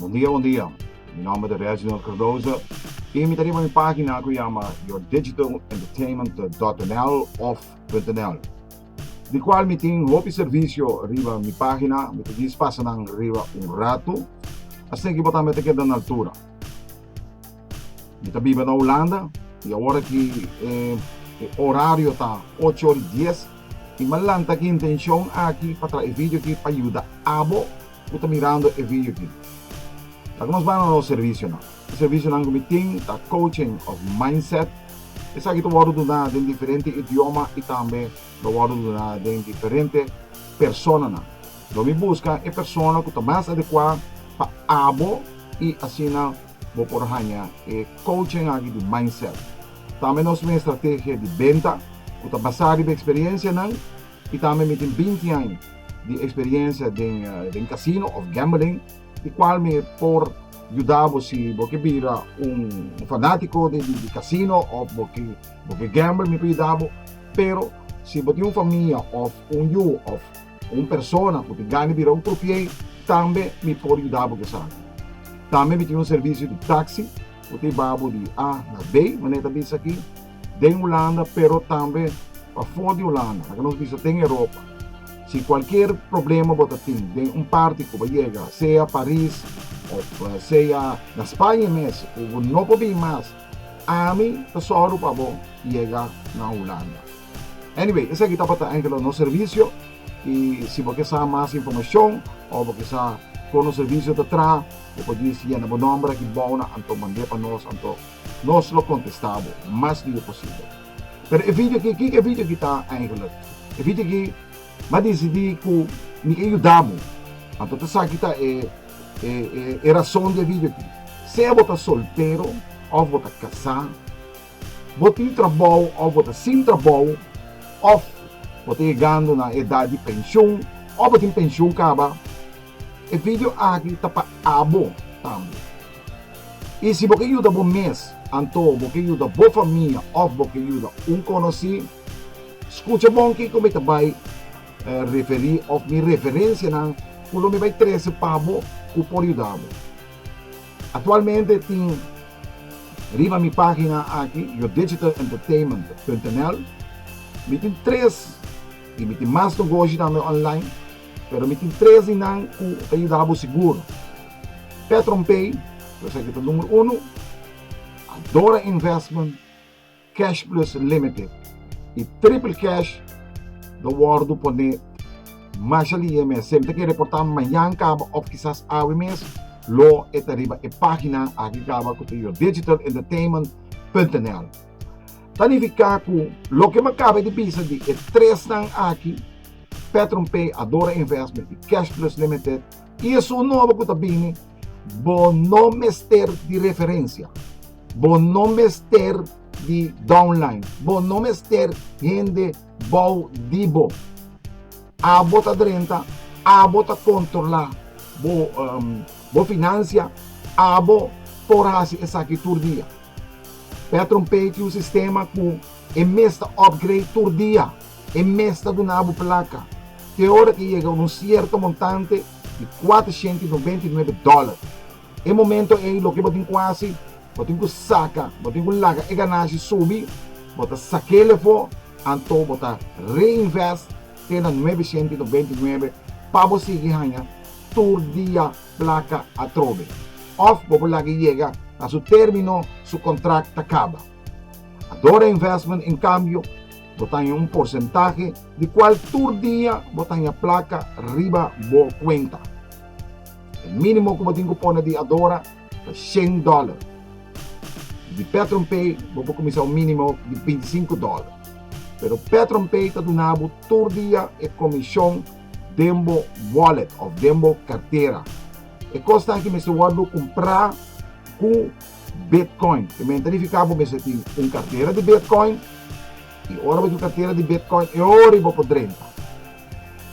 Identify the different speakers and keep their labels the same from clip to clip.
Speaker 1: Bon dia, bon dia. Mi nòmber ta Reginald Cardoza i mi ta riba mi página ku yama yourdigital-entertainment dot nl òf punt nl. di cual mi tin hopi servicio riba mi pagina, mi ta gis pasa nan riba un rato, asina ki bo tambe ta keda na altura. Mi ta biba na Hulanda y awor aki e, e horario ta ocho ori dies y mi a lanta aki intencion aki pa traha e video aki pa yuda abo cu ta mirando e video aki. Laga nos bana na nos servicio nan. E servisionan ku mi tin ta Coaching of Mindset. Esaki ta wòrdu duná den diferente idioma i tambe lo wòrdu duná den diferente personanan. Lo mi buska e persona ku ta mas adekuá pa abo i asina bo por haña e coaching aki di mindset. Tambe nos tin un estrategia di benta ku ta basá riba eksperiencianan i tambe mi tin binti aña di eksperiencia den casino of gambling. Di cual mi por yuda bo si bo ke bira un fanatico di di casino of bo ke bo ke gamble mi por yuda bo pero si bo tin un famia of un yu of un persona cu tin gana di bira un croupier tambe mi por yuda bo cu esaki tambe mi tin un servicio di taxi. Bo tin babu di A na B, manera ta bisa aki, den Hulanda pero tambe pafor di Hulanda, laga nos bisa den Europa. Si cualkier problema bo ta tin den un parti cu bo yega, sea Paris of sea na Spaña mes cu bo no por bin mas, ami ta sòru pa bo yega na Hulanda. Anyway, esaki tabata enkel nos servicio. Y si bo ke sa mas informacion of bo ke sa kono servicio ta traha, bo por dies yena bo nomber aki bou nan anto mande pa nos anto nos lo contesta bo mas liu posible. Pero e video aki, kiko e video aki ta eigenlijk? E video aki m'a decidi cu mi ke yuda bo, anto ta esaki ta e e razon di e video aki, sea bo ta soltero of bo ta casa, Bo tin trabou of bo ta sin trabou of bo ta yegando na edat di pension of bo tin pension kaba, e video aki ta pa abo tambe. Y si bo ke yuda bo mes anto bo ke yuda bo famia of bo ke yuda un conoci, scucha bon kico mi ta bay referi of mi referencianan cu lo mi bay trece pabo cu por yudabo. Actualmente tin riba mi pagina aki yourdigitalenttertainment.nl mi tin tres y mi tin mas nogoshi tambe online pero mi tin tres di nan cu ta yuda bo sigur PetronPay cu esaki ta numero uno Adora Investment Cash Plus Limited y Triple Cash lo wordo pone masha lie mes. Si el ta ke reporta mañan kaba of kisas awe mes, lo e ta riba e pagina aki kaba ku ta yourdegitalentertainment.nl. Ta nifica ku loke mi a kaba di bisa di e tresnan aki, Petron Pay, Adora Investment y Cash Plus Limited, y esun nobo ku ta bini, Bo no mester di referencia. Bo no mester di downline. Bo no mester hende bou di bo. Abo ta drenta, abo ta controla bo um, bo financia, abo por haci esaki tur dia. Petron pay tin un sistema cu E mes ta upgrade tur dia. E mes ta duna bo plaka te ora ke yega un sierto montante di kuatrashenta i noventa i nuebe dòler. E momento ei loke bo tin ku hasi? Bo tin ku saka, bo tin ku laga e ganashi subi, bo ta sak'el afó, anto bo ta reinvest te na nuebeshenta i noventa i nuebe pa bo sigui haña tur dia plaka atrobe. Òf bo por laga e yega na su término, su kontrakt ta kaba. Adora Investment en kambio bo ta haña un porsentahe di kual tur dia bo ta haña plaka riba bo kuenta. E mínimo ku bo tin ku pone di Adora ta shen dòler. I di PetronPay bo por kuminsá un mínimo di binti sinku dòler. Pero PetronPay ta duna bo tur dia e komishon den bo wòlet òf den bo kartera. E kosnan aki mester wòrdu kumprá ku. Bitcoin. Primero ta verifica bo mester tin un cartera di Bitcoin y ora bo tin un cartera di Bitcoin e ora y bo por drenta.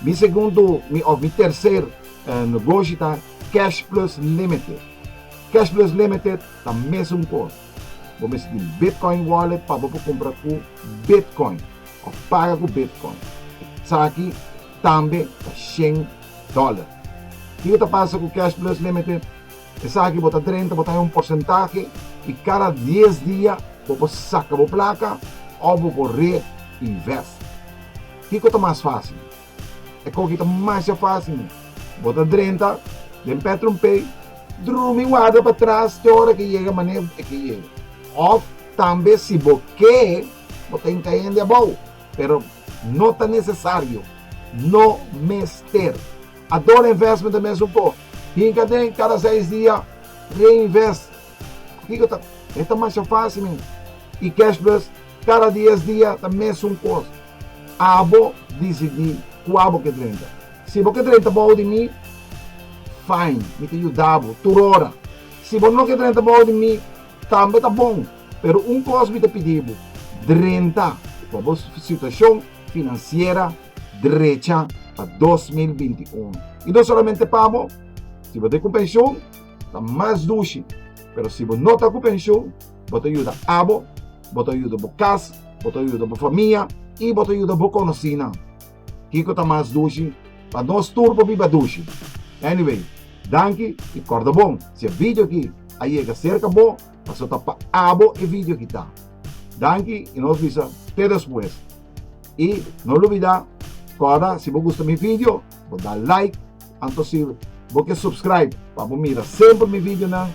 Speaker 1: Mi segundo mi of mi tercer negoshi ta Cash Plus Limited. Cash Plus Limited ta mesun cos. Bo mester tin Bitcoin wallet pa bo por cumpra cu Bitcoin of paga cu Bitcoin. Esaki tambe ta shen dollar. Kico ta pasa cu Cash Plus Limited? Esaki bo ta drenta, bo ta hay un porsentahe y cada dies dia bo por saca bo placa of bo por re invest. Kico ta mas facil? E cogi ta masha facil mi. Bo ta drenta den PetronPay, drumi warda pa tras te ora ke yega mane e ke yega. Of tambe si bo ke bo ta hinca hende abao, pero no ta necesario, no mester. A dor investment ta mes un po. Hinka den kada seis dia reinvest. Kiko ta e ta masha fácil men. I cash plus kada dies dia ta mes un kos. Abo disidí kua bo ke drenta. Si bo ke drenta bou di mi, fine, mi ta yuda bo tur ora. Si bo no ke drenta bou di mi, tambe ta bon, pero un kos mi ta pidi bo, drenta pa bo situashon finansiera. drecha pa dos mil binti un. I no solamente pa amo, si bo ta ku penshun, ta mas dushi. Pero si bo no ta ku penshun, bo ta yuda abo, bo ta yuda bo kas, bo ta yuda bo famia i bo ta yuda bo konosinan. Kiko ta mas dushi? Pa nos tur por biba dushi. Anyway, danki i kòrda bon, si e video aki a yega serka bo, pasobra ta pa abo e video aki ta. Danki i nos bisa te despues. Y no lo bida kòrda si bo gusta mi video bo da like anto si bo ke subscribe pa bo mira semper mi videonan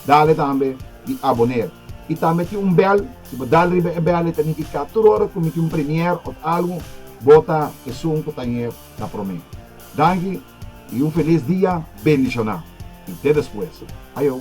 Speaker 1: dale tambe di aboner y tambe tin un bèl si bo dal riba e bèl e ta nifiká tur ora ku mi tin un premier òf algu bo ta esun ku ta hier na promé. Danki y un felis dia bendishoná y te despues. Ayo.